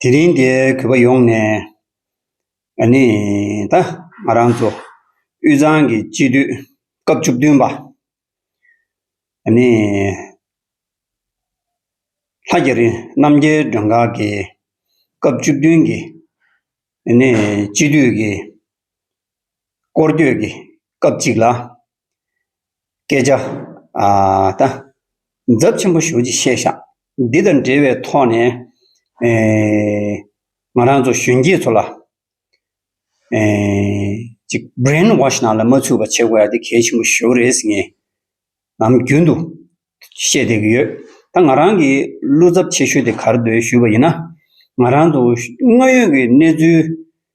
དེ་རིང་འདིར་གུས་པ་ཡོངས་ནས་ནི་ད། ང་རང་ཚོ་དབུས་གཙང་གི་སྤྱི་འཐུས་སྐབས་བཅུ་བདུན་པ། ནི་ལྷ་རྒྱ་རི་རྣམ་རྒྱལ་མགྲོན་ཁང་གི་སྐབས་བཅུ་བདུན་གྱི་ནི་སྤྱི་འཐུས་ཀྱི་སྐོར་སྐྱོད་ཀྱི་སྐབས་གཅིག་ལ། སྐད་ཆ། ད། འཛབ་ཆེན་པོ་ཞུ་ཅིག་ཤེས་བཞག་འདི་དང་འབྲེལ་བའི་ཐོག་ནས། ང་རང་ཚོ་གཞོན་སྐྱེས་ཚོ་ལ། ཅིག Brain Wash ནང་ལ་མ་ཚུད་པ་བྱེད་དགོས་ཡ་དེ་གལ་ཆེན་པོ་ཞོ་རེད་ཟེར་ངས། ནམ་རྒྱུན་དུ། བཤད་བསྡད་ཀྱི་ཡོད། ད་ང་རང་གིས་བློ་འཚབ་ཆེ་ཤོས་དེ་གར་སྡོད་ཞུས་པ་ཡིན་ན། ང་རང་ཚོ་དངོས་ཡོད་ཀྱི་གནས་ཚུལ།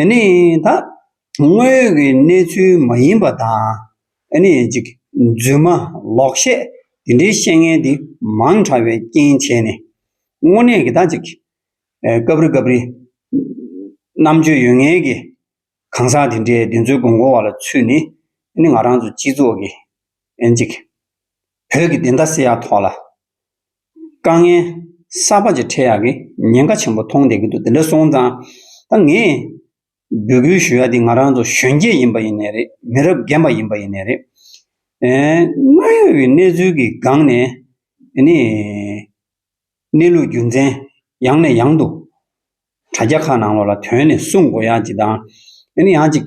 ཨ་ནི་ད། དངོས་ཡོད་ཀྱི་གནས་ཚུལ་མ་ཡིན་པ་དང། ཨ་ནི་གཅིག། རྫུན་མ། ལོག་བཤད། འདི་འདྲའི་བཤད་ངན་འདི་མང་དྲགས་པའི་རྐྱེན་བྱས་ནས། དངོས་གནས་ཀྱི་ད་ཅིག། སྐབས་རེ་སྐབས་རེ། རྣམ་དཔྱོད་ཡོད་ངེས་ཀྱི། གང་ཟག་དེ་འདྲའི་བདེན་འཚོལ་དགོས་མཁོ་བ་ལ་ཚུད་ནས། ཨ་ནི་ང་རང་ཚོ་སྤྱི་ཚོགས་ཀྱི། ཨ་ནི་གཅིག། བོད་ཀྱི་བདེན་མཐའ་སེལ་ཡ་ཐོག་ལ། དཀའ་ངལ་གསར་པ་ཅིག་འཕྲད་ཡག་གི་ཉེན་ཁ་ཆེན་པོ་མཐོང་བསྡད་ཀྱི་འདུག་དེ་འདྲ་སོང་ཙང་ད་ངས་འབོད་སྐུལ་ཞུ་ཡག་འདི་ང་རང་ཚོ་གཞོན་སྐྱེས་ཡིན་པ་ཡིན་ནས་རེད་མི་རབས་རྒན་པ་ཡིན་པ་ཡིན་ནས་རེད། དངོས་ཡོད་ཀྱི་གནས་ཚུལ་གྱི་སྒང་ནས་འདི་ནས་གནས་ལུགས་རྒྱུ་མཚན་ཡང་ནས་ཡང་དུ་དྲ་རྒྱ་ཁག་ནང་ལོགས་ལ་དོན་ནས་གསུངས་དགོས་ཡག་ཅིག་དང་འདི་ནས་ཡང་ཅིག་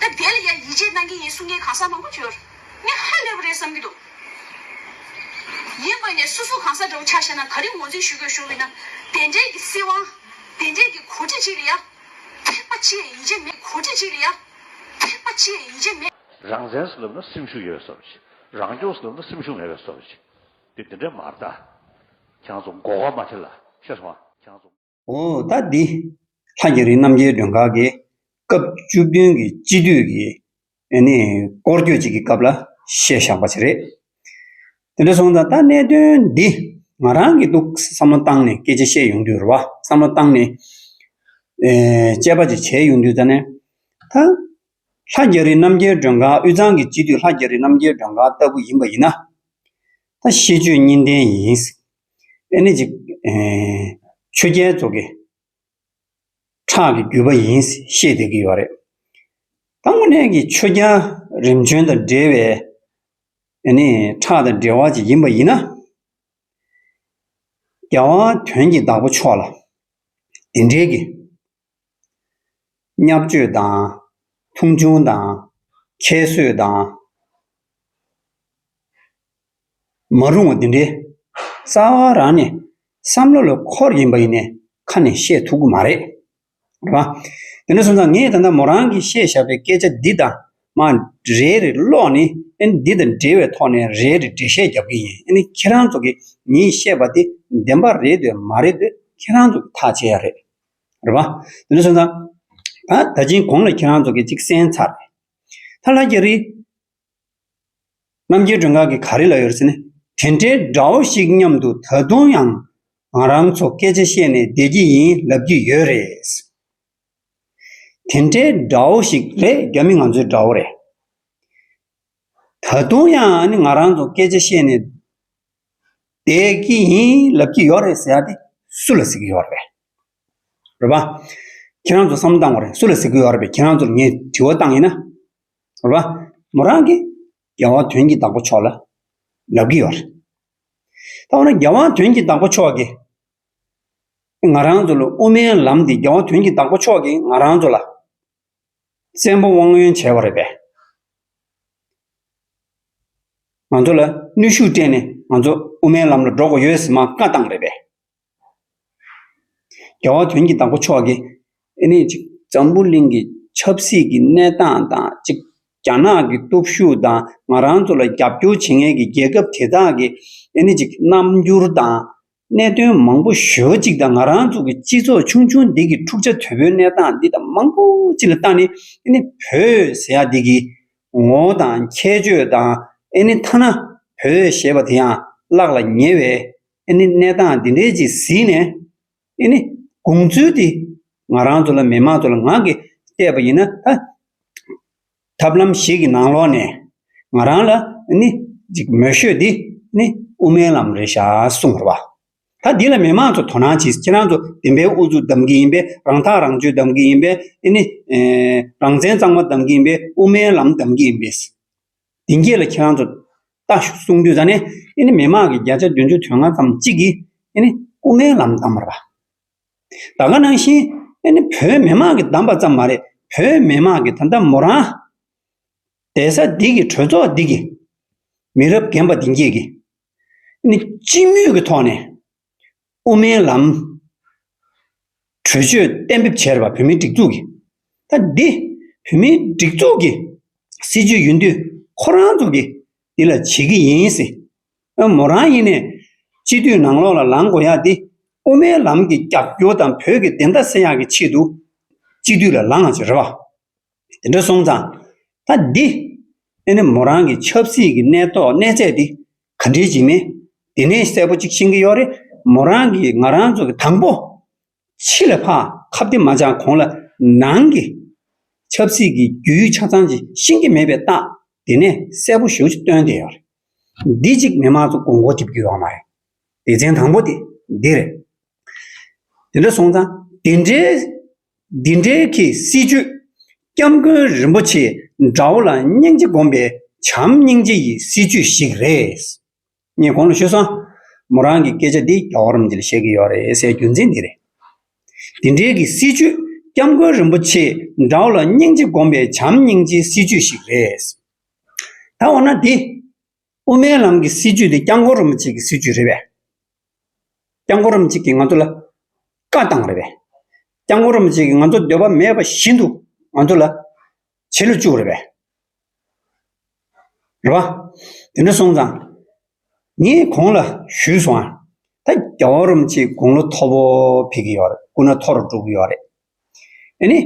ད་དེ་ལ་ཡང་ཡིད་ཆེས་གནང་གི་ཡིན་གསུང་མཁན་གང་ས་མང་པོ་གྱུར། ངས་ཧ་ལས་པ་རེད་བསམ་གྱི་འདུག་ཡིན་དགོས་ནས་སོ་སོ་གང་ས་འདྲ་བོ་ཆགས་ཤེས་ན་ག་རེ་ངོ་འཛིན་ཞུ་དགོས་ཤོར་བས་ན་དེ་འདྲའི་གི་སྲིད་དབང། དེ་འདྲའི་གི་གོ་སྒྲིག་ཅིག་ལ་ཡང། ཐེག་པ་ཅི་ཡས་ཡིད་ཆེས་མེད་གོ་སྒྲིག་ཅིག་ལ་ཡང། ཐེག་པ་ཅི་ཡས་ཡིད་ཆེས་མེད། རང་བཙན་སོགས་ལབ་ན་སེམས་ཤུགས་ཡོད་པའི་བསོད་བྱེད། རང་སྐྱོང་སོགས་ལབ་ན་སེམས་ཤུགས་མེད་པའི་བསོད་བྱེད། དེ་འདི་འདྲའི་མར་ལྟ། ཁྱང་ཚོ་མགོ་སྐོར་མ་ཁྱེར་ལ་ཤེས་སོང་ཨ། ཟླ་འདི་ལྷ་རྒྱ་རི་རྣམ་རྒྱལ་མགྲོན་ཁང་གིས་སྐབས་བཅུ་བདུན་གྱི་དཔྱིད་དུས་ཀྱི་སྐོར་སྐྱོད་ཅིག་གི་སྐབས་ལ་བཤད་བཞག་པ་ཞིག་རེད། དེ་འདྲ་སོང་ཙང་ད་གནད་དོན་འདི་ང་རང་གིས་ཏུ་བསམ་བློ་བཏང་ནས་སྐད་ཆ་བཤད་ཡོང་དུས་རེད་བ་བསམ་བློ་བཏང་ནས་དཔྱད་པ་ཅིག་བྱས་ཡོང་དུས་ཙང་ནས་ད་ལྷ་རྒྱ་རི་རྣམ་རྒྱལ་མགྲོན་ཁང་དབུས་གཙང་གི་དཔྱིད་དུས་ལྷ་རྒྱ་རི་རྣམ་རྒྱལ་མགྲོན་ཁང་ལྟ་བུ་ཡིན་པ་ཡིན་ན། ད་ཤེས་སྤྱོད་གཉིས་ལྡན་ཡིན། ཨེ་ནི་ཅི། ཆོས་རྒྱལ་རྫོགས་ཀྱི་ཁྲག་གི་རྒྱུད་པ་ཡིན་ཤེས་དགོས་ཀྱི་ཡོད་རེད། ད་དངོས་གནས་ཀྱི་ཆོས་རྒྱལ་རིམ་བྱོན་དང་འབྲེལ་བའི་ཨེ་ནི་ཁྲག་དང་འབྲེལ་བ་ཅིག་ཡིན་པ་ཡིན་ན། རྒྱལ་དབང་དོན་གྱི་བདག་པོ་མཆོག་ལ་དེ་འབྲེལ་གྱི་བསྙབ་བཅོས་དང། མཐོང་ཆུང་དང། ཁྱད་གསོད་དང། མ་རུང་བ་འདི་འདྲའི། རྩ་བ་རང་ནས། བསམ་བློ་ལ་འཁོར་བཞིན་པ་ཡིན་ནས་ཁ་ནས་བཤད་ཐུབ་ཀི་མ་རེད། རེད་བ། དེ་འདྲ་སོང་ཙང་ངས་ད་ལྟ་མོ་རང་གིས་བཤད་བཞག་པའི་སྐད་ཆ་འདི་དང། མ། རེད་རེད་ཀློག་ནི། ཨེ་ནི་འདི་དང་འབྲེལ་བའི་ཐོག་ནས་རེད་རེད་འགྲེལ་བཤད་རྒྱབ་ཀི་ཡིན་ཨེ་ནི་ཁྱེད་རང་ཚོ་གིས་ངས་བཤད་པ་དེ་བདེན་པ་རེད་འདོད་མ་རེད་འདོད་ཁྱེད་རང་ཚོ་གིས་ཐག་བཅད་ཡ་རེད། རེད་བ། དེ་ནས་སོང་ཙང། ད་ད་ཅིང་གོང་ལ་ཁྱེད་རང་ཚོ་གིས་ཅིག་གསན་ཚར་རེད། ད་ལྷ་རྒྱ་རི། རྣམ་རྒྱལ་སྒྲོན་ག་གིས་ག་རེ་ལབ་ཡོད་རེད་ཟེར་ནས། དེ་འདྲའི་འདྲ་བོ་ཞིག་སྙམ་དུ་ད་དུང་ཡང་ང་རང་ཚོ་སྐད་ཆ་བཤད་ནས་བསྡད་ཀྱི་ཡིན་ལབ་ཀྱི་ཡོད་རེད། དེ་འདྲའི་འདྲ་བོ་ཞིག་རེད་རྒྱ་མི་ང་ཚོའི་འདྲ་བོ་རེད། ད་དུང་ཡང་ང་རང་ཚོ་སྐད་ཆ་བཤད་ནས། དེ་གིས་ཡིན་ལབ་ཀྱི་ཡོད་རེད་ཟེར་ཏེ་སུ་ལ་ཟེར་གྱི་ཡོད་རེད། རེད་པཱ། ཁྱེད་རང་ཚོ་བསམ་བློ་བཏང་བ་རེད་སུ་ལ་ཟེར་གྱི་ཡོད་རེད་པས་ཁྱེད་རང་ཚོར་ངས་དྲི་བ་བཏང་ཡིན་ན། རེད་པཱ། མོ་རང་གིས་རྒྱལ་དབང་དོན་གྱི་བདག་པོ་མཆོག་ལ་ལབ་ཀྱི་ཡོད་རེད། ད་འོ་ན་རྒྱལ་དབང་དོན་གྱི་བདག་པོ་མཆོག་གིས་ང་རང་ཚོ་ལ་དབུ་མའི་ལམ་འདི་རྒྱལ་དབང་དོན་གྱི་བདག་པོ་མཆོག་གིས་ང་རང་ཚོ་ལ་བཙན་པོ་དབང་ཡོན་བྱས་པ་རེད་པས། ང་ཚོ་ལ་གནོད་ཤུགས་སྤྲད་ནས་ང་ཚོ་དབུ་མའི་ལམ་ལ་འགྲོ་དགོས་ཡོད་ཟེར་མ་བཀའ་བཏང་རེད་པས། རྒྱལ་བ་དོན་གྱི་བདག་པོ་མཆོག་གིས་དེ་ནས་གཅིག་འཛམ་བུ་གླིང་གི་ཆབ་སྲིད་ཀྱི་གནས་སྟངས་དང་གཅིག་རྒྱ་ནག་གི་སྟོབས་ཤུགས་དང་ང་རང་ཚོ་ལ་རྒྱབ་སྐྱོར་བྱེད་མཁན་གྱི་རྒྱལ་ཁབ་དེ་དག་གི་དེ་ནས་གཅིག་རྣམ་འགྱུར་དང། གནད་དོན་མང་པོ་ཞོལ་གཅིག་དང་ང་རང་ཚོ་གི་སྤྱི་ཚོགས་ཆུང་ཆུང་འདི་གི་འཁྲུག་ཆ་དོད་པོའི་གནས་སྟངས་འདི་དང་མང་པོ་གཅིག་ལ་བཏང་ནི་ཨེ་ནི་བོད་ཟེར་ཡག་འདི་གི་ངོ་བོ་དང་ཁྱད་ཆོས་དང་ཨེ་ནི་ཐ་ན་བོད་ཞེས་པ་དེ་ཡང་བརླག་ལ་ཉེ་བའི་ཨེ་ནི་གནས་སྟངས་འདི་འདྲའི་ཅིག་ཟིན་ནས་ཨེ་ནི་དགོངས་ཚུལ་འདི་ང་རང་ཚོ་ལ་མི་མང་ཚོ་ལ་ངང་གིས་བལྟས་པ་ཡིན་ན་ད། ཐབས་ལམ་ཞིག་གི་ནང་ལོགས་ནས། ང་རང་ལ་ནི། ཅིག་མོས་ཤོད་དེ། ནི། དབུ་མའི་ལམ་རེད་ཤག་གསུངས་བར་བ། ད་འདི་ལ་མི་མང་ཚོ་དོ་སྣང་བྱེད་ཁྱེད་རང་ཚོ་བདེན་པའི་ཨུ་ཚུགས་གདམ་གྱི་ཡིན་པས་རང་ཐག་རང་གཅོད་གདམ་གྱི་ཡིན་པས་ནི། རང་བཙན་གཙང་མ་གདམ་གྱི་ཡིན་པས་དབུ་མའི་ལམ་གདམ་གྱི་ཡིན་པས། དེ་འགྱེད་ལ་ཁྱེད་རང་ཚོ། ལྟ་ཞུ་གསུངས་དུས་ད་ནི། ནི་མི་མང་གི་བརྒྱ་ཆ་བདུན་ཅུ་དོན་ལྔ་ཙམ་གཅིག་གིས། ནི། དབུ་མའི་ལམ་གདམ་བར་བ། ད་ག་ནང་བཞིན། ཨེ་ནི་བོད་མི་མང་གིས་བདམས་པ་ཙམ་མ་རེད། བོད་མི་མང་གིས་ད་ལྟ་མོ་རང། གདན་ས་འདི་གི་གྲོས་ཚོགས་འདི་གི། མི་རབས་རྒན་པ་འདི་འགྱེད་ཀྱིས། ཨེ་ནི་སྤྱི་མོས་ཀྱི་ཐོག་ནས། དབུ་མའི་ལམ། གྲོས་ཆོད་གཏན་འབེབས་བྱས་རེད་པ་བོད་མིའི་སྒྲིག་འཛུགས་ཀྱིས། ད་འདི། བོད་མིའི་སྒྲིག་འཛུགས་ཀྱི། སྲིད་ཇུས་ཡིན་དུས་ཁོ་རང་ཚོ་གིས་འདི་ལ་བྱེད་ཀྱི་ཡིན་སྲིད། ཨ་མོ་རང་ཡེ་ནས། སྤྱི་འཐུས་ནང་ལོགས་ལ་ལངས་དགོས་ཡ་འདི། དབུ་མའི་ལམ་གྱི་རྒྱབ་སྐྱོར་དང་བོད་ཀྱི་བདེན་མཐའ་གསལ་ཡག་གི་ཆེད་དུ། སྤྱི་འཐུས་ལ་ལངས་ཟེར་བ། དེ་འདྲ་སོང་ཙང། ད་འདི། ཨ་ནེ་མོ་རང་གི་ཆབ་སྲིད་ཀྱི་གནས་ཐོག་གནས་ཚད་འདི། ག་འདྲའི་བྱེད་མིན། འདི་ནས་གསལ་པོ་གཅིག་ཤེས་ཀྱི་ཡོག་རེད་མོ་རང་གིས་ང་རང་ཚོ་གི་དང་པོ། ཕྱི་ལ་འཕགས་ཁ་བདེ་མ་ཆགས་གོང་ལ་ནང་གི་ཆབ་སྲིད་ཀྱི་རྒྱུ་ཡུལ་ཆ་ཚང་ཅིག་ཤེས་ཀྱི་མེད་པའི་རྟགས་དེ་ནས་གསལ་པོ་ཞུ་ཅིག་སྟོན་བསྡད་ཡོད་རེད། འདི་གཅིག་མི་མང་ཚོ་དགོངས་སྐོར་བརྒྱབ་རྒྱུ་ཡོད་མ་རེད། སྡེ་ཚན་དང་པོ་དེ་འདི་རེད། དེ་འདྲ་སོང་ཙང་དེ་འདྲའི་འདི་འདྲའི་གི་སྲིད་ཇུས་སྐྱབས་མགོན་རིན་པོ་ཆེ་འདྲ་བོ་ལ་སྙིང་རྗེ་སྒོམ་པའི་བྱམས་སྙིང་རྗེ་ཡི་སྲིད་ཇུས་ཞིག་རེད། ངས་གོང་ལ་ཤོད་སོང། མོ་རང་གི་སྐད་ཆ་འདི་རྒྱ་གོ་རིམ་གྱི་ལ་བཤད་ཀྱི་ཡོད་རེད་སའི་རྒྱུ་མཚན་འདི་རེད། འདི་འདྲའི་གི་སྲིད་བྱུས་སྐྱབས་མགོན་རིན་པོ་ཆེ་འདྲ་བོ་ལ་སྙིང་རྗེ་སྒོམ་པའི་བྱམས་སྙིང་རྗེའི་སྲིད་བྱུས་ཤིག་རེད། ད་འོ་ན་འདི། དབུ་མའི་ལམ་གྱི་སྲིད་བྱུས་འདི་སྐྱབས་མགོན་རིན་པོ་ཆེ་གི་སྲིད་བྱུས་རེད་པས། སྐྱབས་མགོན་རིན་པོ་ཆེ་གིས་ང་ཚོ་ལ་བཀའ་བཏང་རེད་པས། སྐྱབས་མགོན་རིན་པོ་ཆེ་གིས་ང་ཚོ་འདོད་པ་མེད་པ་བཞིན་དུ་ང་ཚོ་ལ་བྱེད་ལ་བཅུག་རེད་པས། རེ་བ། དེ་འདྲ་སོང་ཙང། ངས་ཁོང་ལ་ཞུས་སོང་ཨ། ད་རྒྱ་བོ་རུམ་གྱི་དགུང་ལོ་མཐོ་པོ་ཕེབས་ཀྱི་ཡོད་རེད་སྐུ་ན་མཐོ་རུ་འགྲོ་གི་ཡོད་རེད། དེ་ནི།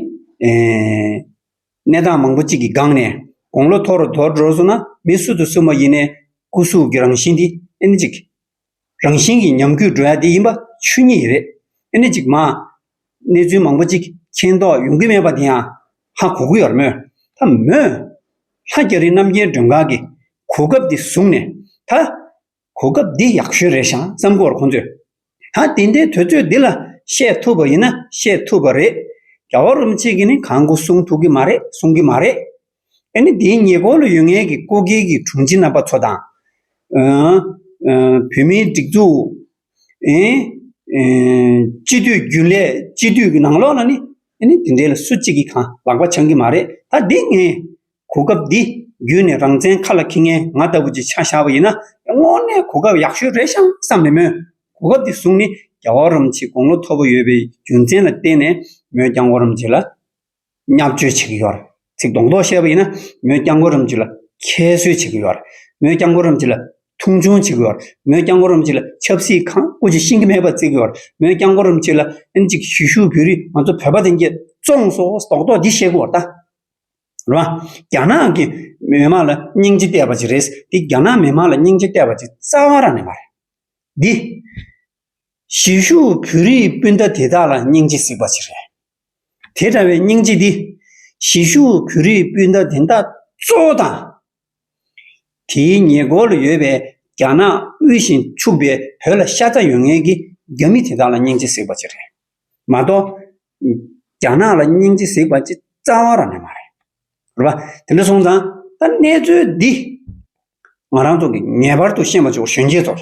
གནས་སྟངས་མང་པོ་གཅིག་གི་སྒང་ནས་དགུང་ལོ་མཐོ་རུ་དོར་འགྲོ་སོང་ན་མི་སུ་དང་སུ་མ་ཡིན་ནས་སྐུ་གཟུགས་ཀྱི་རང་བཞིན་འདི་ཨེ་ན་ཅིག། རང་བཞིན་གྱི་ཉམས་རྒུད་འགྲོ་ཡ་འདི་ཡིན་པ་ཆོས་ཉིད་རེད། ཨེ་ནས་ཅིག་མ། གནས་ཚུལ་མང་པོ་ཅིག་མཁྱེན་རྟོགས་ཡོང་གི་མེད་པ་དེ་ཡང་ཧ་གོ་གི་ཡོད་མོད། ད་མོས། ལྷ་རྒྱ་རི་རྣམ་རྒྱལ་མགྲོན་ཁང་གི་གོ་སྐབས་འདི་བཟུང་ནས་ད། གོ་སྐབས་འདི་ཡག་ཤོས་རེད་ཤག་བསམ་གོ་ཁོང་ཚོས། ད་དེ་འདྲའི་དུས་ཚོད་འདི་ལ་བཤད་ཐུབ་པ་ཡིན་ན་བཤད་ཐུབ་པ་རེད། རྒྱ་བ་རུམ་ཅིག་གིས་ནི་གང་གོ་གསུང་ཐུབ་གི་མ་རེད་གསུང་གི་མ་རེད། ཨ་ནི་དེའི་ཉེ་འཁོར་ལ་ཡོད་ངེས་ཀྱི་ཀོ་གྷལ་གྱི་དྲུང་ཆེ་རྣམ་པ་ཚོ་དང། བོད་མིའི་སྒྲིག་འཛུགསསྤྱི་འཐུས་རྒྱུན་ལས་སྤྱི་འཐུས་ཀྱི་ནང་ལོགས་ལ་ནི་ཨ་ནི་དེ་འདྲའི་ལ་སུ་གཅིག་གིས་གང་ལག་པ་འཆང་གི་མ་རེད་ད་འདི་ངས་གོ་སྐབས་འདི་བརྒྱུད་ནས་རང་བཙན་ཁ་ལ་ཁེལ་ངེས་ང་ལྟ་བུ་ཅིག་ཆ་བཞག་པ་ཡིན་ན་དངོས་གནས་གོ་སྐབས་ཡག་ཤོས་རེད་ཤང་བསམ་མེད་མོད་གོ་སྐབས་འདི་བཟུང་ནས་རྒྱ་བོ་རམ་བྱེད་དགོངས་བློ་མཐོ་པོ་ཡོད་པའི་རྒྱུ་མཚན་ལ་བརྟེན་ནས་མོས་ཀྱང་བོ་རམ་བྱེད་ལ། བསྙག་བརྗོད་བྱེད་ཀྱི་ཡོད། ཚིག་སྡོང་རྡོག་བཤད་པ་ཡིན་ན་མོས་རྐྱང་གོ་རིམ་གཅིག་ལ་ཁྱད་གསོད་བྱེད་ཀྱི་ཡོད། མོས་རྐྱང་གོ་རིམ་གཅིག་ལ་མཐོང་ཆུང་བྱེད་ཀྱི་ཡོད། མོས་རྐྱང་གོ་རིམ་གཅིག་ལ་ཆབ་སྲིད་ཁང་བཀོད་ཀྱི་ཤིང་གི་མེད་པར་བརྩི་གི་ཡོད། མོས་རྐྱང་གོ་རིམ་གཅིག་ལ་ཨིན་ཇི་གི་གཞིས་བཞུགས་བོད་རིགས་ང་ཚོ་བོད་པ་དེ་འགྱེལ་བཙོང་སོ་སོགས་རྡོག་རྡོག་འདི་བཤད་གི་འོ་ད། རེད་མ། རྒྱ་ནག་གི་མི་དམངས་ལ་སྙིང་རྗེ་གཏད་པ་ཅིག་རེད། འདི་རྒྱ་ནག་མི་དམངས་ལ་སྙིང་རྗེ་གཏད་པ་ཅིག་རྩ་བ་རང་ནས་མ་རེད། འདི། གཞིས་བཞུགས་བོད་རིགས་སྤུན་ཟླ་དེ་དག་ལ་སྙིང་རྗེ་གཟིགས་པ་ཞིག་རེད། དེ་འདྲ་བའི་སྙིང་རྗེ་འདི། གཞིས་བཞུགས་བོད་རིགས་སྤུན་ཟླ་དེ་དག་གཙོ་བོ་དང། དེའི་ཉེ་འཁོར་ལ་ཡོད་པའི་རྒྱ་ནག་དབུལ་བཞིན་ཕྱུག་པའི་བོད་ལ་ཤ་ཚ་ཡོད་ངེས་ཀྱི་རྒྱ་མི་དེ་དག་ལ་སྙིང་རྗེ་གཟིགས་པ་ཞིག་རེད་མ་གཏོགས། རྒྱ་ནག་ལ་སྙིང་རྗེ་གཟིགས་པ་ཅི་རྩ་བ་རང་ནས་མ་རེད། རེད་པ། དེ་འདྲ་སོང་ཙང་ད་གནས་ཚུལ་འདི། ང་རང་ཚོ་གིས་ངེས་པར་དུ་ཤེས་མ་བཅུག་གཞོན་སྐྱེས་ཚོར།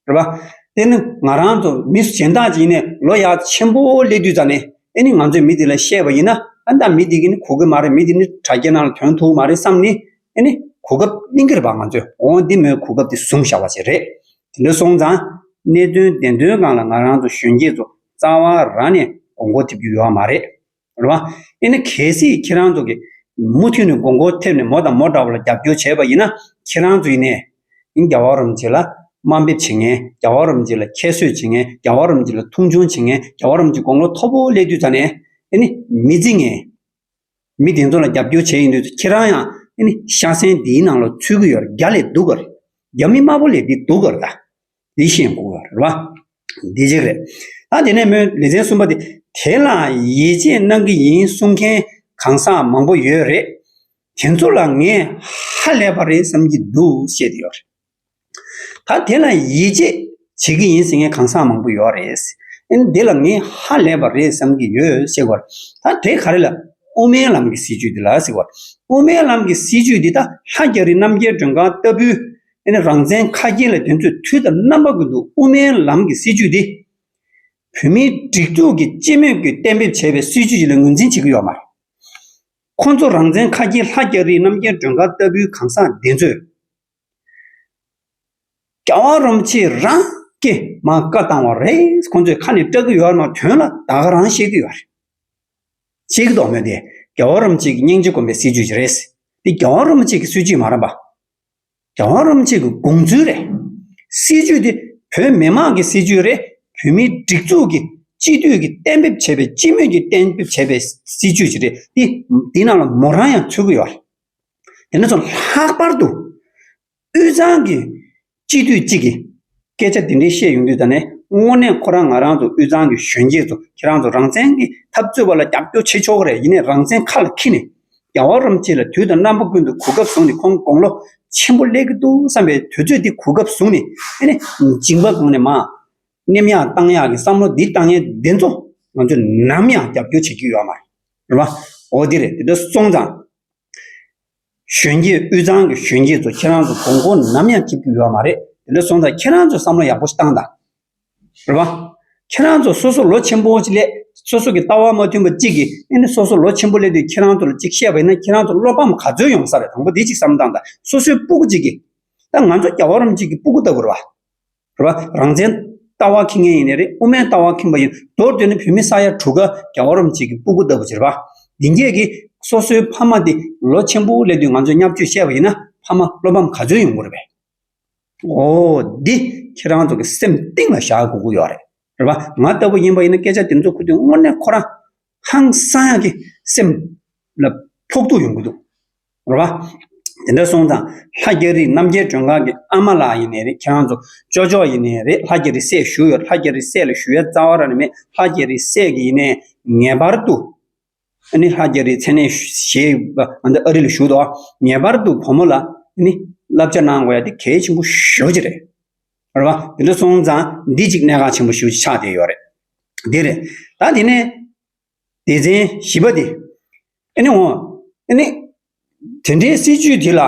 རེད་པ། དེ་ནི་ང་རང་ཚོ་མི་གཞན་དག་ཅིག་ཡིན་ནས་ལོ་ཡག་ཆེན་པོ་སླེབས་དུས་ཙམ་ནས་ཨེ་ནི་ང་ཚོས་མི་དེ་ལ་བཤད་པ་ཡིན་ན་ཨ་ད་མི་དེ་གིས་ནི་གོ་གི་མ་རེད་མི་དེ་ནི་དྲ་རྒྱའི་ནང་ལ་དོན་ཐུག་མ་རེད་བསམ་ནས་ཨེ་ནི་གོ་སྐབས་གླེང་གི་རེད་པ་ང་ཚོས་འོ་འདི་མོའི་གོ་སྐབས་དེ་བཟུང་བཞག་པ་ཞིག་རེད། དེ་འདྲ་སོང་ཙང་གནད་དོན་བདེན་དོན་སྒང་ལ་ང་རང་ཚོ་གཞོན་སྐྱེས་ཚོ་རྩ་བ་རང་ནས་གོ་འགོ་ཐེབས་རྒྱུ་ཡོད་མ་རེད། རེད་བ། དེ་ནི་གལ་སྲིད་ཁྱེད་རང་ཚོ་གིས་མུ་མཐུད་ནས་དགོས་མཁོ་ཐེབས་ནས་མོ་དང་མོ་འདྲ་བ་ལ་རྒྱབ་སྐྱོར་བྱས་པ་ཡིན་ན་ཁྱེད་རང་ཚོ་ཡིན་ནའི་རྒྱ་བ་རོམ་གྱི་ལ་དམའ་འབེབས་བྱེད་ངན་རྒྱ་བ་རོམ་གྱི་ལ་ཁྱད་གསོད་བྱེད་ངན་རྒྱ་བ་རོམ་གྱི་ལ་མཐོང་ཆུང་བྱེད་ངན་རྒྱ་བ་རོམ་གྱི་དགོང་ལོ་མཐོ་པོ་སླེབས་དུས་ཙ་ནས་དེ་ནི་མི་རྫི་ངན། མི་དེ་ཚོ་ལ་རྒྱབ་སྐྱོར་བྱས་ཡིན་དུས་ཚོད་ཁྱེད་རང་ཡང་དེ་ནི་ཤ་གསེང་འདིའི་ནང་ལ་ཚུད་གི་ཡོད་རྒྱ་ལས་སྡུག་ག་རེད་རྒྱ་མི་དམར་པོ་ལས་འདི་སྡུག་ག་རེད་ད། དེ་བཞིན་དགོངས་ལ་རེ་བ། འདི་གཅིག་རེད། ད་དེ་ནས་མོས་ལེ་ཚན་གསུམ་པ་དེ་དེ་ལ་ཡིད་ཆེས་གནང་གི་ཡིན་གསུང་མཁན་གང་ཟག་མང་པོ་ཡོད་རེད། དེ་ཚོ་ལ་ངས་ཧ་ལས་པ་རེད་བསམ་གྱི་འདུག་བཤད་དེ་ཡོད་རེད། ད་དེ་ལ་ཡིད་ཆེས་བྱེད་ཀྱི་ཡིན་ཟེར་མཁན་གང་ཟག་མང་པོ་ཡོད་རེད། ཨན་འདི་ལ་ངས་ཧ་ལས་པ་རེད་བསམ་གྱི་ཡོད་བཤད་དགོས་རེད། ད་དེ་ག་རེ་ལ་དབུ་མའི་ལམ་གྱི་སྲིད་བྱུས་འདི་ལ་ཟེར་དགོས་རེད། དབུ་མའི་ལམ་གྱི་སྲིད་བྱུས་འདི་ད་ལྷ་རྒྱ་རི་རྣམ་རྒྱལ་སྒྲོན་གང་ལྟ་བུའི་ཨེ་ནི་རང་བཙན་ཁ་སྐྱེངས་ལ་དེ་ཚོས་དུས་དང་རྣམ་པ་ཀུན་ཏུ་དབུ་མའི་ལམ་གྱི་སྲིད་བྱུས་དེ། བོད་མིའི་སྒྲིག་འཛུགས་ཀྱིས་སྤྱི་མོས་ཀྱིས་གཏན་འབེབས་བྱས་པའི་སྲིད་བྱུས་ཞིག་ལ་ངོས་འཛིན་བྱེད་ཀྱི་ཡོད་མ་རེད། ཁོང་ཚོ་རང་བཙན་ཁ་སྐྱེངས་ལྷ་སྐྱ་རིའི་རྣམ་རྒྱལ་སྒྲོན་དཀར་ལྟ་བུའི་གང་ཟག་འདི་ཚོས། རྒྱ་བ་རོམ་ཕྱིའི་རང་སྐྱེ་མ་བཀའ་བཏང་བ་རེད་ཁོང་ཚོས་ཁ་ནས་སྐྲག་གི་ཡོད་ན་དོན་ལ་ད་ག་རང་ཤེས་ཀྱི་ཡོད་རེད། ཤེས་ཀྱི་འདོག་མོད་དེ་རྒྱ་བ་རོམ་ཕྱིའི་སྙིང་རྗེ་དཀོན་པའི་སྲིད་བྱུས་ཞིག་རེད། འདི་རྒྱ་བ་རོམ་ཕྱིའི་སྲིད་བྱུས་མ་རམ་པ། རྒྱ་དབང་རིམ་བྱེད་ཀྱི་དགོངས་ཚུལ་རེད། སྲིད་ཇུས་དེ་བོད་མི་མང་གི་སྲིད་ཇུས་རེད་བོད་མིའི་སྒྲིག་འཛུགས་ཀྱི་སྤྱི་འཐུས་ཀྱི་གཏན་འབེབས་བྱས་པའི་སྤྱི་མོས་ཀྱི་གཏན་འབེབས་བྱས་པའི་སྲིད་ཇུས་ཅིག་རེད་དེ། དེའི་ནང་ལ་མོ་རང་ཡང་ཚུད་ཀྱི་ཡོད། དེ་ནས་བཟུང་ལྷག་པར་དུ་དབུས་གཙང་གི་སྤྱི་འཐུས་གཅིག་གིས། སྐད་ཆ་འདི་འདྲའི་བཤད་ཡོང་དུས་ད་ནས་དངོས་གནས་ཁོ་རང་ང་རང་ཚོ་དབུས་གཙང་གི་གཞོན་སྐྱེས་ཚོ་ཁྱེད་རང་ཚོ་རང་བཙན་གྱི་འཐབ་རྩོད་བ་ལ་རྒྱབ་སྐྱོར་བྱེད་ཆོག་གི་རེད་ཡིན་ནས་རང་བཙན་ཁ་ལ་འཁྱིལ་ནས་རྒྱ་བ་རོམ་ཁྱེད་ལ་དུས་དང་རྣམ་པ་ཀུན་ཏུ་གོ་སྐབས་བཟུང་ནས་ཁོང་དགོང་ལོ་ཆེན་པོ་སླེབས་ཀྱི་འདུག་བསམ་པའི་དུས་ཚོད་འདི་གོ་སྐབས་བཟུང་ནས་ཨེ་ནས་མཇིང་པ་གོང་ནས་མ་ནེམ་ཡག་གཏང་ཡག་གི་བསམ་བློ་འདི་གཏང་མཁན་དེ་ཚོ་ང་ཚོས་ནམ་ཡང་རྒྱབ་སྐྱོར་བྱེད་ཀྱི་ཡོད་མ་རེད་འོ་དེ་རེད་དེ་འདྲ་སོང་ཙང། གཞོན་སྐྱེས་དབུས་གཙང་གི་གཞོན་སྐྱེས་ཚོ་ཁྱེད་རང་ཚོ་དགོང་མཁོ་ནམ་ཡང་སྐྱིད་པོ་ཡོད་མ་རེད་དེ་འདྲ་སོང་ཙང་ཁྱེད་རང་ཚོས་བསམ་བློ་ཡག་པོ་ཞིག་བཏང་དང། རེད་པ། ཁྱེད་རང་ཚོ་སོ་སོ་ལོ་ཆེན་པོ་ཞིག་སླེབས་སོ་སོ་གི་ལྟ་བ་མ་མཐུན་པ་གཅིག་གིས་ཨེ་ནི་སོ་སོ་ལོ་ཆེན་པོ་སླེབས་དུས་ཁྱེད་རང་ཚོ་ལ་གཅིག་བཤད་པ་ཡིན་ན་ཁྱེད་རང་ཚོ་བློ་ཕམ་ག་ཚོད་ཡོང་ས་རེད་དང་པོ་དེ་གཅིག་བསམ་བཏང་དང་སོ་སོའི་སྤུ་གུ་གཅིག་གིས། ད་ང་ཚོ་རྒྱ་བོད་རོམ་གཅིག་གི་སྤུ་གུ་ལྟ་བུར་བ། རེད་བ། རང་བཙན། ལྟ་བ་ཁེངས་མཁན་ཡིན་ནི་རེད་དབུ་མའི་ལྟ་བ་ཁེངས་པ་ཡིན། མདོར་བསྡུས་ནི་བོད་མི་ས་ཡ་དྲུག་ཀ་རྒྱ་བ་རོམ་གཅིག་གི་སྤུ་གུ་ལྟ་བུ་བྱེད་རེད་བ། འདི་འགྱེད་ཀྱི། སོ་སོའི་ཕ་མ་འདི་ལོ་ཆེན་པོ་སླེབས་དུས་ང་ཚོས་མཉམ་སྤྱོད་བཤད་པ་ཡིན་ན་ཕ་མ་བློ་ཕམ་ག་ཚོད་ཡོང་དགོས་རེད་བས། འོ། འདི། ཁྱེད་རང་ཚོ་གི་སེམས་གཏིང་ལ་བཞག་དགོས་ཀྱི་ཡོད་རེད་བ། ང་ལྟ་བུ་ཡིན་པ་ཡིན་ན་སྐད་ཆ་འདི་ཚོ་ཁུར་དུས་དངོས་གནས་ཁོ་རང། ཧང་སངས་ཀྱི་སེམས་ལ་ཕོག་ཐུག་ཡོང་གི་འདུག་རེད་བ། དེ་འདྲ་སོང་ཙང་ལྷ་རྒྱ་རིས་རྣམ་རྒྱལ་མགྲོན་ཁང་གི་ཨ་མ་ལགས་ཡིན་ནི་རེད་ཁྱེད་རང་ཚོ་ཅོག་ཅོག་ཡིན་ནི་རེད་ལྷ་རྒྱ་རིས་སྲས་བཞུགས་ཡོད་ལྷ་རྒྱ་རིས་སྲས་ལ་ཞུ་ཡ་རྩ་བ་ར་ནི་མེད་ལྷ་རྒྱ་རིས་སྲས་ཀྱི་ཡིན་ནི་ངེས་པར་དུ་ཨ་ནི་ལྷ་རྒྱ་རིས་མཚན་གནས་ཞེས་པ་ང་འདི་ཨ་རི་ལ་བཞུགས་འདུག་ངེས་པར་དུ་བུ་མོ་ལ་ཨ་ནི་བསླབ་བྱ་གནང་དགོས་ཡ་དེ་གལ་ཆེན་པོ་ཤོས་ཀྱི་རེད། རེད་བ། དེ་འདྲ་སོང་ཙང་འདི་གཅིག་གནད་འགག་ཆེན་པོ་ཞིག་ཆགས་བསྡད་ཡོད་རེད། དེ་རེད། ད་དེ་ནས། སྡེ་ཚན་བཞི་པ་དེ། ཨེ་ནི་འོ། ཨེ་ནི། དེ་འདྲའི་སྲིད་ཇུས་དེ་ལ།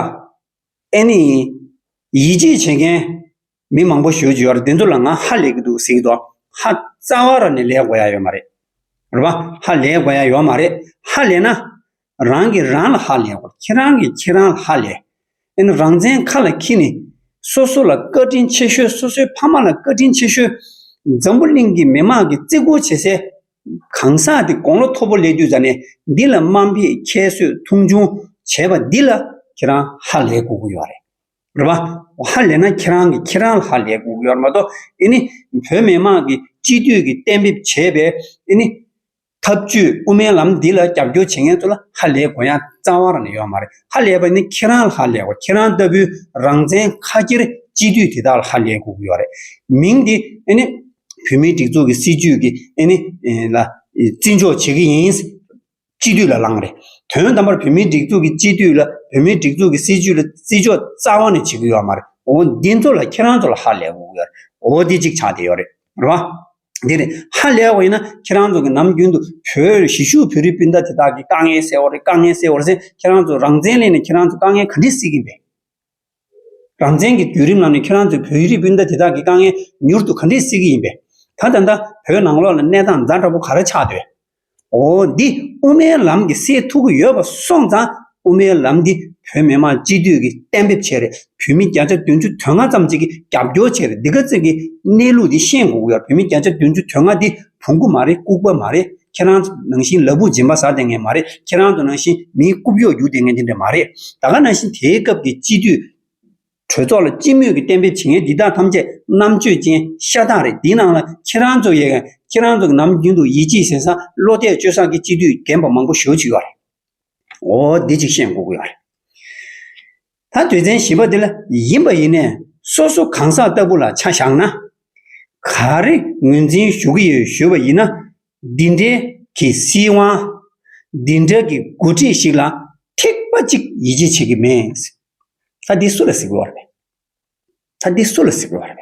ཨེ་ནི། ཡིད་ཆེས་བྱེད་མཁན། མི་མང་པོ་ཞོལ་གྱི་ཡོད་རེད་དེ་ཚོ་ལ་ང་ཧ་ལས་ཀྱི་འདུག་ཟེར་གྱི་འདུག་ཧ། རྩ་བ་ར་ནས་ལས་དགོས་ཡ་ཡོད་མ་རེད། རེད་བ། ཧ་ལས་དགོས་ཡ་ཡོད་མ་རེད། ཧ་ལས་ན། རང་གིས་རང་ལ་ཧ་ལས་པར་ཁྱེད་རང་གིས་ཁྱེད་རང་ལ་ཧ་ལས། ཨན་རང་བཙན་ཁ་ལ་འཁྱིལ་ནས། སོ་སོ་ལ་བཀའ་དྲིན་ཆེ་ཤོས་སོ་སོའི་ཕ་མ་ལ་བཀའ་དྲིན་ཆེ་ཤོས། འཛམ་བུ་གླིང་གི་མི་དམངས་ཀྱིས་བརྩི་བཀུར་བྱེད་སའི། གང་ཟག་འདི་དགོང་ལོ་མཐོ་པོ་སླེབས་དུས་ཟ་ནས་འདི་ལ་དམའ་འབེབས་ཁྱད་གསོད་མཐོང་ཆུང་བྱས་པ་འདི་ལ་ཁྱེད་རང་ཧ་ལས་དགོས་ཀྱི་ཡོད་རེད། རེད་པ། ཧ་ལས་ན་ཁྱེད་རང་གིས་ཁྱེད་རང་ལ་ཧ་ལས་དགོས་ཀྱི་ཡོད་རེད་མ་གཏོགས། ཨན། བོད་མི་དམངས་ཀྱིས་སྤྱི་འཐུས་ཀྱིས་གཏན་འབེབས་བྱས་པའི། ཨན། འཐབ་ཇུས་དབུ་མའི་ལམ་འདི་ལ་རྒྱབ་སྐྱོར་བྱེད་མཁན་ཚོ་ལ་ཧ་ལས་གོ་ཡང་རྩ་བ་རང་ནས་ཡོད་མ་རེད་ཧ་ལས་པ་ནི་ཁྱེད་རང་ལ་ཧ་ལས་གོ་ཁྱེད་རང་ལྟ་བུའི་རང་བཙན་ཁ་ཁྱེར་སྤྱི་འཐུས་དེ་དག་ལ་ཧ་ལས་གོ་གི་ཡོད་རེད་མིང་འདི་ཨེ་ནི་བོད་མིའི་སྒྲིག་འཛུགས་ཀྱི་སྲིད་ཇུས་ཀྱི་ཨེ་ནི་ལ་བརྩི་འཇོག་བྱེད་གི་ཡིན། སྤྱི་འཐུས་ལ་ལངས་རེད་དོན་དམ་པར་བོད་མིའི་སྒྲིག་འཛུགས་ཀྱི་སྤྱི་འཐུས་ལ་བོད་མིའི་སྒྲིག་འཛུགས་ཀྱི་སྲིད་ཇུས་ལ་བརྩི་འཇོག་རྩ་བ་ནས་བྱེད་གི་ཡོད་མ་རེད་འོ་འདི་ཚོ་ལ་ཁྱེད་རང་ཚོ་ལ་ཧ་ལས་གོ་གི་ཡོད་རེད་འོ་འདི་གཅིག་ཆ་དེ་ཡོད་རེད་རེད་བ། འདིར་ཧ་ལས་བ་ཡིན་ན་ཁྱེད་རང་ཚོ་གིས་ནམ་རྒྱུན་དུ་བོད་གཞིས་བཞུགས་བོད་རིགས་སྤུན་ཟླ་དེ་དག་གི་དཀའ་ངལ་སེལ་བ་རེད་དཀའ་ངལ་སེལ་བར་སེམས་ཁྱེད་རང་ཚོ་རང་བཙན་སླེབས་ནས་ཁྱེད་རང་ཚོ་དཀའ་ངལ་ག་འདྲས་སེལ་གིན་པས། རང་བཙན་གྱི་བརྒྱུད་རིམ་ལམ་ནས་ཁྱེད་རང་ཚོས་བོད་རིགས་སྤུན་ཟླ་དེ་དག་གི་དཀའ་ངལ་མྱུར་དུ་ག་འདྲས་སེལ་གྱི་ཡིན་པས། ད་ལྟ་འདའ་བོད་ནང་ལོགས་ལ་གནས་སྟངས་མཛའ་འདྲ་པོ་ག་རེ་ཆགས་སྡོད། འོ་འདི་དབུ་མའི་ལམ་གྱི་སའི་ཐུགས་ཁུར་ཡོད་པ་སོང་ཙང་དབུ་མའི་ལམ་འདི་བོད་མི་མང་སྤྱི་འཐུས་ཀྱིས་གཏན་འབེབས་བྱས་རེད་བོད་མི་བརྒྱ་ཆ་བདུན་ཅུ་དོན་ལྔ་ཙམ་གཅིག་གིས་རྒྱབ་སྐྱོར་བྱས་རེད་འདི་ག་ཚོད་ཀྱིས་གནས་ལུགས་འདི་ཤེས་འགུག་ཡོད་བོད་མི་བརྒྱ་ཆ་བདུན་ཅུ་དོན་ལྔ་འདི་བོང་གུ་མ་རེད་ལྐུག་པ་མ་རེད་ཁྱེད་རང་ཚོ་ནང་བཞིན་ལ་བུ་སྦྱིན་པ་ཟ་དེ་ངས་མ་རེད་ཁྱེད་རང་ཚོ་ནང་བཞིན་མིའི་རྐུབ་གཡོག་རྒྱུག་དེ་ངས་དེ་འདྲས་མ་རེད་ད་ག་ནང་བཞིན་དེའི་སྐབས་ཀྱི་སྤྱི་འཐུས། གྲོས་ཚོགས་ལ་སྤྱི་མོས་ཀྱིས་བསྟན་པའི་བྱེད་ངན་འདི་དག་ཐམས་ཅད་རྣམ་དཔྱོད་ཅན་ཤ་སྟག་རེད་འདི་ནང་ལ་ཁྱེད་རང་ཚོ་ཡོད་ཀྱང་ཁྱེད་རང་ཚོ་ནམ་རྒྱུན་དུ་ཡིད་ཆེས་ཟེར་སང་བློ་གཏད་བཅོལ་སང་གི་སྤྱི་འཐུས་རྒན་པ་མང་པོ་ཞོ་བྱུས་ཡོད་རེད། འོ་འདི་ཅིག་ཤེས་འགོ་དགོས་ཡོད་རེད། ད་དོལ་ཚན་བཞི་པ་འདི་ལ་ཡིན་པ་ཡིན་ནས་སོ་སོ་གང་ཟག་ལྟ་བུ་ལ་ཆ་བཞག་ན། ག་རེ་ངོས་འཛིན་ཞུ་གི་ཡོད་ཞུས་པ་ཡིན་ན། འདི་འདྲའི་གི་སྲིད་དབང། འདི་འདྲ་གི་འགོ་ཁྲིད་ཞིག་ལ་ཐེག་པ་གཅིག་ཡིད་ཆེས་བྱེད་ཀྱི་མེད། ད་འདི་སུ་ལ་གཟིགས་དགོས་བ་རེད། ད་འདི་སུ་ལ་གཟིགས་དགོས་བ་རེད།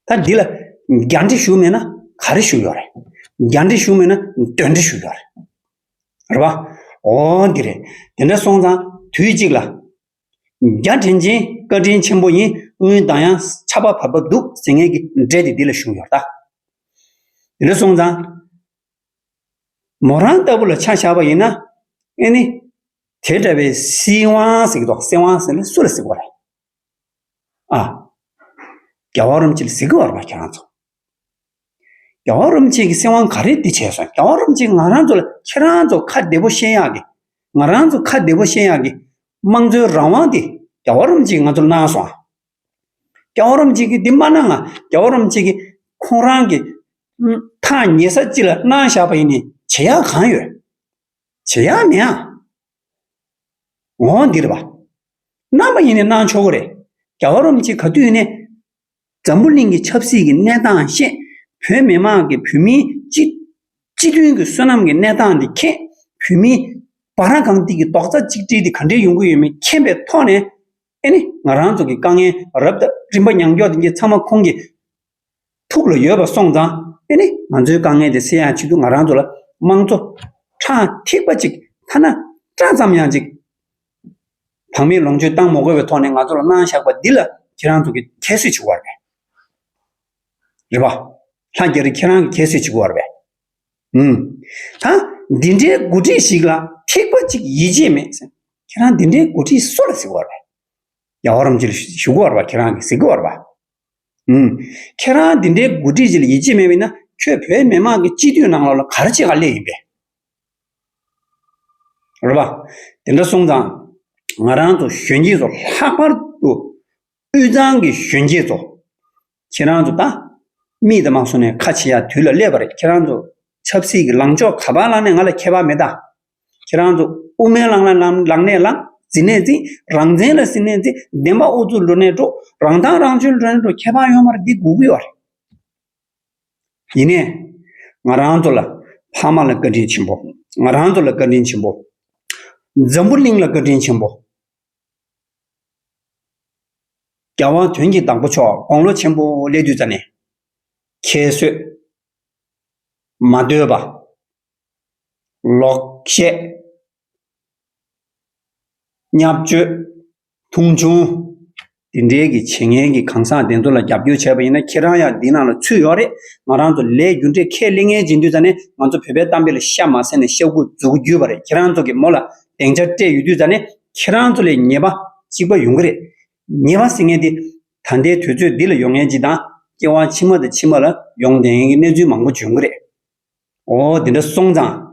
ད་འདི་ལ་རྒྱ་འདྲེ་ཞུགས་མེད་ན་ག་རེ་ཞུགས་ཡོད་རེད། རྒྱ་འདྲེ་ཞུགས་མེད་ན་དོན་འདྲེ་ཞུགས་ཡོད་རེད། རེད་བ། འོ་འདི་རེད། དེ་འདྲ་སོང་ཙང་དུས་གཅིག་ལ། རྒྱ་དྲིན་ཅན་བཀའ་དྲིན་ཆེན་པོ་ཡིན་སྔོན་གདངས་ཡང་ཆ་བ་བབས་པ་འདུག་ཟེར་ངེས་ཀྱི་འདྲེ་དེ་འདི་ལ་ཞུགས་ཡོད་རེད། དེ་འདྲ་སོང་ཙང། མོ་རང་ལྟ་བུ་ལ་ཆ་བཞག་པ་ཡིན་ན། ཨེ་ནི། དེ་འདྲ་བའི་སྲིད་དབང་ཟེར་གྱི་འདུག་སྲིད་དབང་ཟེར་ནི་སུ་ལ་གཟིགས་བར། ཨ། རྒྱ་བ་རུམ་ཆེ་ལ་གཟིགས་བར་བ་ཁྱོད་རང་ཚོ། རྒྱ་བ་རུམ་ཆེ་གི་སྲིད་དབང་ག་རེ་འདི་བྱས་སོང་རྒྱ་བ་རུམ་ཆེ་ང་རང་ཚོ་ལ་ཁྱེད་རང་ཚོ་ཁ་བདེ་བོ་ཤེས་ཡག་གི་ང་རང་ཚོ་ཁ་བདེ་བོ་ཤེས་ཡག་གི་དམངས་གཙོའི་རང་དབང་འདི་རྒྱ་བ་རུམ་ཆེ་ང་ཚོ་ལ་གནང་སོང་ཨ། རོམ་གཅིག་གིས་འདི་མ་གནང་ང། རྒྱ་བོ་རོམ་གཅིག་གིས། ཁོང་རང་གི། ཐག་ཉེ་ས་གཅིག་ལ་གནང་བཞག་པ་ཡིན་ནི་བྱེད་ཡག་གང་ཡོད། བྱེད་ཡག་མེད་ཨང། འོ་འདི་རེད་པ། གནང་པ་ཡིན་ནི་གནང་ཆོག་གི་རེད། རྒྱ་བོ་རོམ་གཅིག་ག་དུས་ནས། འཛམ་བུ་གླིང་གི་ཆབ་སྲིད་ཀྱི་གནས་སྟངས་ཤེས། བོད་མི་མང་གི་བོད་མིའི་སྤྱི། སྤྱི་མཐུན་གྱི་བསོད་ནམས་ཀྱི་གནས་སྟངས་འདི་མཁྱེན། བོད་མིའི། བ་ར་གང་ཏིག་གི་རྡོག་རྩ་གཅིག་སྒྲིལ་འདི་ག་འདྲའི་ཡོང་གི་ཡོད་མེད་མཁྱེན་པའི་ཐོག་ནས། ཨེ་ནི་ང་རང་ཚོ་གི་དཀའ་ངལ་རབ་དང་རིམ་པ་མྱང་འཇོག་དེ་ཚང་མ་ཁོང་གི་ཕུགས་ལ་ཡོད་པ་སོང་ཙང་ཨེ་ནི་ང་ཚོའི་དཀའ་ངལ་དེ་སེལ་ཡང་ཆེད་དུ་ང་རང་ཚོ་ལ་དམངས་གཙོ་ཁྲག་ཐིགས་པ་ཅིག་ཐ་ན་སྐྲ་ཙམ་ཡང་ཅིག་བག་མེད་ལོངས་སྤྱོད་བཏང་མོ་དགོས་པའི་ཐོག་ནས་ང་ཚོ་ལ་གནང་བཞག་པ་འདི་ལ་ཁྱེད་རང་ཚོ་གི་ཁྱད་གསོད་བྱེད་དགོས་བ་རེད། རེད་བ། ལྷ་རྒྱ་རི་ཁྱེད་རང་གི་ཁྱད་གསོད་བྱེད་དགོས་བ་རེད། ད་འདི་འདྲའི་མགོ་ཁྲིད་ཞིག་ལ་ཐེག་པ་ཅིག་ཡིད་ཆེས་མེད་ཟེར། ཁྱེད་རང་འདི་འདྲའི་མགོ་ཁྲིད་སུ་ལ་གཟིགས་བར་བས། རྒྱ་གོ་རམ་ཅི་ལ་བཞུགས་བར་བ་ཁྱེད་རང་གིས་གཟིགས་བར་བ། ཁྱེད་རང་འདི་འདྲའི་མགོ་ཁྲིད་ཅིག་ལ་ཡིད་ཆེས་མེད་བས་ན་ཁྱོད་བོད་མི་མང་གི་སྤྱི་འཐུས་ནང་ལོགས་ལ་ག་རེ་བྱེད་ག་ལས་ཡིན་པས། རེད་བ། དེ་འདྲ་སོང་ཙང་ང་རང་ཚོ་གཞོན་སྐྱེས་ཚོ་ལྷག་པར་དུ་དབུས་གཙང་གི་གཞོན་སྐྱེས་ཚོ། ཁྱེད་རང་ཚོ་ད། མིད་དམག་སོང་ནས་ཁ་ཕྱེ་ཡ་དུས་ལ་སླེབས་པ་རེད་ཁྱེད་རང་ཚོ། ཆབ་སྲིད་ཀྱི་ལངས་ཕྱོགས་ག་པར་བླངས་ནས་ང་ལ་ཁྱད་པར་མེད་ད། ཁྱེད་རང་ཚོ་དབུ་མའི་བླངས་ལ་ལངས་ལངས་ནས་ལངས་ཟིན་ནས་ཟིན་རང་བཙན་ལ་ཟིན་ནས་ཟིན་བདེན་པ་ཨུ་ཚུགས་འགྲོ་ནས་འགྲོ་རང་ཐང་རང་ཆོད་འགྲོ་ནས་འགྲོ་ཁྱད་པར་ཡོད་མ་རེད་འདི་སྒུག་གི་བ་རེད། ཡིན་ནས། ང་རང་ཚོ་ལ། ཕ་མ་ལ་བཀའ་དྲིན་ཆེན་པོ། ང་རང་ཚོ་ལ་བཀའ་དྲིན་ཆེན་པོ། འཛམ་བུ་གླིང་ལ་བཀའ་དྲིན་ཆེན་པོ། རྒྱལ་དབང་དོན་གྱི་བདག་པོ་མཆོག་དགོངས་ལོ་ཆེན་པོ་སླད་དུས་རྩ་ནས། ཁྱད་གསོད། མ་བསྟོད་པ། ལོག་བཤད། བརྙས་བཅོས། མཐོང་ཆུང། དེ་འདྲའི་གི་བྱེད་ངན་གི་གང་ཟག་དེ་ཚོ་ལ་རྒྱབ་སྐྱོར་བྱས་པ་ཡིན་ན་ཁྱེད་རང་ཡང་འདི་ནང་ལ་ཚུད་ཡོད་རེད་ང་རང་ཚོ་ལས་རྒྱུ་འབྲས་ཁས་ལེན་ངན་བྱེད་འདུས་རྩ་ནས་ང་ཚོ་བོད་པའི་གཏམ་དཔེ་ལ་ཤ་མ་ཟས་ནས་ཤ་ཁུ་འཛུགས་རྒྱུ་བ་རེད་ཁྱེད་རང་ཚོ་གི་མོ་ལ་དེང་ཆ་སྤྲད་ཡོད་དུས་རྩ་ནས་ཁྱེད་རང་ཚོ་ལས་ཉེས་པ་གཅིག་པ་ཡོང་གི་རེད། ཉེས་པ་ཟེར་མཁན་དེ་ད་ལྟའི་དུས་ཚོད་འདི་ལ་ཡོང་མཁན་གཅིག་དང་སྐྱེ་བ་ཕྱི་མ་དང་ཕྱི་མ་ལ་ཡོང་དེ་ཡིན་གྱི་གནས་ཚུལ་མང་པོ་འབྱུང་གི་རེད། འོ་དེ་འདྲ་སོང་ཙང།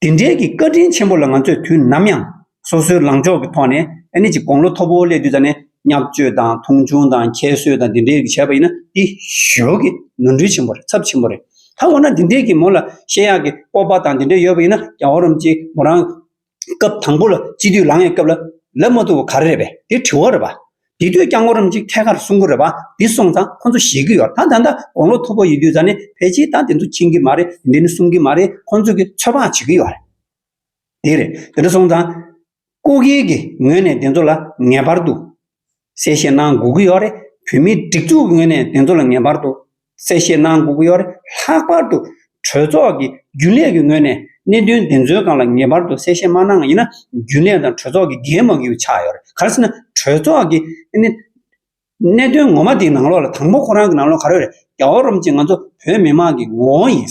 དེ་འབྲེལ་གྱི་བཀའ་དྲིན་ཆེན་པོ་ལ་ང་ཚོས་དུས་ནམ་ཡང་སོ་སོའི་ལངས་ཕྱོགས་ཀྱི་ཐོག་ནས་ཨ་ནི་ཅིག་དགོང་ལོ་མཐོ་པོ་སླེབས་དུས་ཙམ་ནས་བསྙག་བཅོས་དང་མཐོང་ཆུང་དང་ཁྱད་གསོད་དང་དེ་འདྲའི་རིགས་བྱས་པ་ཡིན་ན་དེ་ཞོལ་གྱི་ནོར་འཁྲུལ་ཆེན་པོ་རེད་ཚབས་ཆེན་པོ་རེད། ད་འོ་ན་དེ་འདྲའི་གྱི་མོ་ལ་བཤད་ཡག་གི་སྤོབས་པ་དང་དེ་འདྲ་ཡོད་པ་ཡིན་ན་རྒྱ་བོ་རམ་ཅིག་མོ་རང་སྐབས་དང་པོ་ལ་སྤྱི་འཐུས་ལངས་ཡོད་སྐབས་ལ་ལབ་མ་ཐུབ་པ་ག་རེ་རེད་པས་འདི་དྲི་བ་རེད་པ། འདི་དུས་རྐྱང་གོ་རིམ་གྱིས་ཐད་ཀར་གསུང་གི་རེད་པ་འདི་སོང་ཙང་ཁོ་ཚོ་ཞེད་ཀྱི་ཡོད་ད་ད་ལྟ་དགོང་ལོ་མཐོ་པོ་ཡོད་དུས་ཙང་ནི་ཕལ་ཆེར་ད་འདི་ཚོ་མཁྱེན་གྱི་མ་རེད་འདི་ནི་གསུང་གི་མ་རེད་ཁོ་ཚོ་གིས་ཚོད་དཔག་བྱེད་ཀྱི་ཡོད་རེད། འདི་རེད་འདི་འདྲ་སོང་ཙང། སྐུ་སྒེར་གྱི་ངོས་ནས་འདི་ཚོ་ལ་ངེས་པར་དུ་གསལ་བཤད་གནང་དགོས་ཀྱི་ཡོད་རེད། བོད་མིའི་སྒྲིག་འཛུགས་ཀྱི་ངོས་ནས་དེ་ཚོ་ལ་ངེས་པར་དུ་གསལ་བཤད་གནང་དགོས་ཀྱི་ཡོད་རེད། ལྷག་པར་དུ་གྲོས་ཚོགས་ཀྱི་རྒྱུན་ལས་ཀྱི་ངོས་ནས་གནད་དོན་དེ་ཚོའི་སྒང་ལ་ངེས་པར་དུ་གསལ་བཤད་མ་གནང་བ་ཡིན་ན་རྒྱུན་ལས་དང་གྲོས་ཚོགས་ཀྱི་འགན་མ་འཁུར་བ་ཆགས་ཡོད་རེད། ག་རེ་ཟེར་ན་གྲོས་ཚོགས་ཀྱི་གནད་དོན་ངོ་མ་དེའི་ནང་ལོགས་ལ་དང་པོ་ཁོ་རང་གི་ནང་ལོགས་ག་རེ་རེད། རྒྱ་བོད་རུམ་གཅིག་ང་ཚོ་བོད་མི་དམངས་ཀྱི་ངོ་བོ་ཡིན།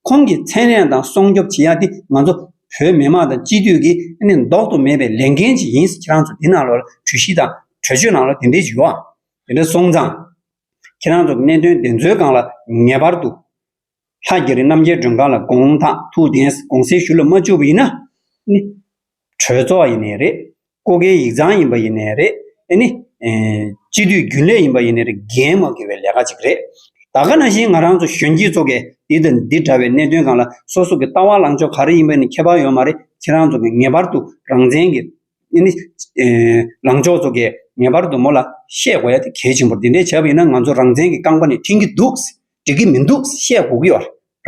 ཁོང་གིས་ཚན་རིག་དང་སྲུང་སྐྱོབ་བྱེད་ཡ་དེ་ང་ཚོ་བོད་མི་དམངས་དང་སྤྱི་འཐུས་ཀྱི་ཟློག་ཏུ་མེད་པའི་ལས་འགན་ཞིག་ཡིན་ཟེར་ཁྱེད་རང་ཚོ་འདི་ནང་ལོགས་ལ་གྲོས་གཞི་དང་གྲོས་ཆོད་ནང་ལོགས་དེ་འདྲའི་བྱུས་བ། དེ་འདྲ་སོང་ཙང། ཁྱེད་རང་ཚོ་གནད་དོན་འདི་ཚོའི་སྒང་ལ་ངེས་པར་དུ། ལྷ་རྒྱ་རི་རྣམ་རྒྱལ་སྒྲོན་གང་ལ་དགོངས་དག་ཐུགས་གདན་དགོངས་སེལ་ཞུ་ལ་མ་བཅུག་པ་ཡིན་ན། གྲོས་ཚོགས་ཡིན་ནས་རེད། ཀོ་ཁའི་ཡིག་ཚང་ཡིན་པ་ཡིན་ནས་རེད། ཨེ་ནི། སྤྱི་འཐུས་རྒྱུན་ལས་ཡིན་པ་ཡིན་ནས་རེད་འགན་མ་འཁུར་བའི་ལས་ཀ་ཅིག་རེད། ད་ག་ན་བཞིན་ང་རང་ཚོ་གཞོན་སྐྱེས་ཚོ་གས་འདི་དང་འདི་འདྲ་བའི་གནད་དོན་གང་ལ་སོ་སོ་གི་ལྟ་བ་ལངས་ཕྱོགས་ག་རེ་ཡིན་པ་ནི་ཁྱད་པར་ཡོད་མ་རེད་ཁྱེད་རང་ཚོ་གས་ངེས་པར་དུ་རང་བཙན་གི། ཨེ་ནི། ལངས་ཕྱོགས་ཚོ་གས་ངེས་པར་དུ་མོ་ལ་བཤད་དགོས་ཡ་དེ་གལ་ཆེན་པོར་འདི་འདྲས་བྱས་པ་ཡིན་ན་ང་ཚོ་རང་བཙན་གི་རྐང་པ་ནས་འཐེན་གི་འདུག། འགྲིག་གི་མི་འདུག་བཤད་སྒུག་གི་བར་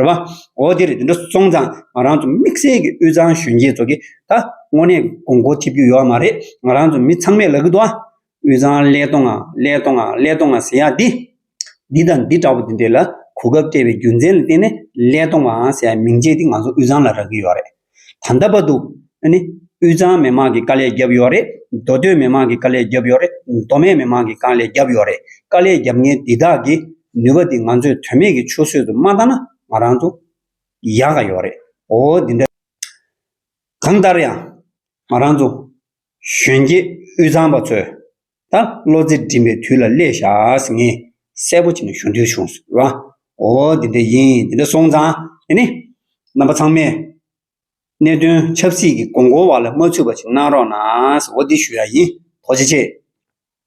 བ། འོ་དེ་རེད་དེ་འདྲ་སོང་ཙང་ང་རང་ཚོ་དམིགས་བསལ་གྱི་དབུས་གཙང་གཞོན་སྐྱེས་ཚོ་གི་ད་དངོས་གནས་དགོང་མགོ་འཐིབ་རྒྱུ་ཡོད་མ་རེད་ང་རང་ཚོ་མི་ཚང་མས་ལ་གི་འདུག་ཨ། དབུས་གཙང་ཀླད་སྟོང་ཨ་ཀླད་སྟོང་ཨ་ཀླད་སྟོང་ཨ་ཟེར་ཡག་འདི། འདི་དང་འདི་འདྲ་བོ་དེ་འདྲས་ལ་གོ་སྐབས་སྤྲད་པའི་རྒྱུ་མཚན་ལ་བརྟེན་ནས་ཀླད་སྟོང་ཨ་ཟེར་ཡག་མིང་ཅན་འདི་ང་ཚོ་དབུས་གཙང་ལ་རག་གི་ཡོད་རེད། ད་ལྟ་བར་དུ། ཨ་ནི། དབུས་གཙང་མི་མང་གི་དཀའ་ལས་བརྒྱབ་ཡོད་རེད། མདོ་སྟོད་མི་མང་གི་དཀའ་ལས་བརྒྱབ་ཡོད་རེད། མདོ་སྨད་མི་མང་གི་དཀའ་ལས་བརྒྱབ་ཡོད་རེད། དཀའ་ལས་བརྒྱབ་མཁན་འདི་དག་གི་ནུས་པ་འདི་ང་ཚོས་དོན་མེད་ཀྱི་ཆུ་ཟོད་དུ་མ་བཏང་ན་ང་རང་ཚོ། ཡག་ག་ཡོད་རེད། འོ་འདི་འདྲ། གང་ལྟར་ཡང། ང་རང་ཚོ། གཞོན་སྐྱེས་དབུས་གཙང་པ་ཚོས། ད་བློ་རྩེ་སྒྲིམ་པའི་དུས་ལ་སླེབས་བཞག་ངས་གསལ་པོ་བྱས་ནས་ཞུ་འདོད་བྱུང་ཟེར་བ། འོ་དེ་འདྲ་ཡིན་དེ་འདྲ་སོང་ཙང་དེ་ནི། རྣམ་པ་ཚང་མས། གནད་དོན་ཆབ་སྲིད་ཀྱི་མགོ་འཁོར་བ་ལ་མ་ཚུད་པ་ཞིག་གནང་རོགས་གནང་ཟེར་འོ་དེ་ཞུ་ཡག་ཡིན་དོགས་ཅི་བྱེད།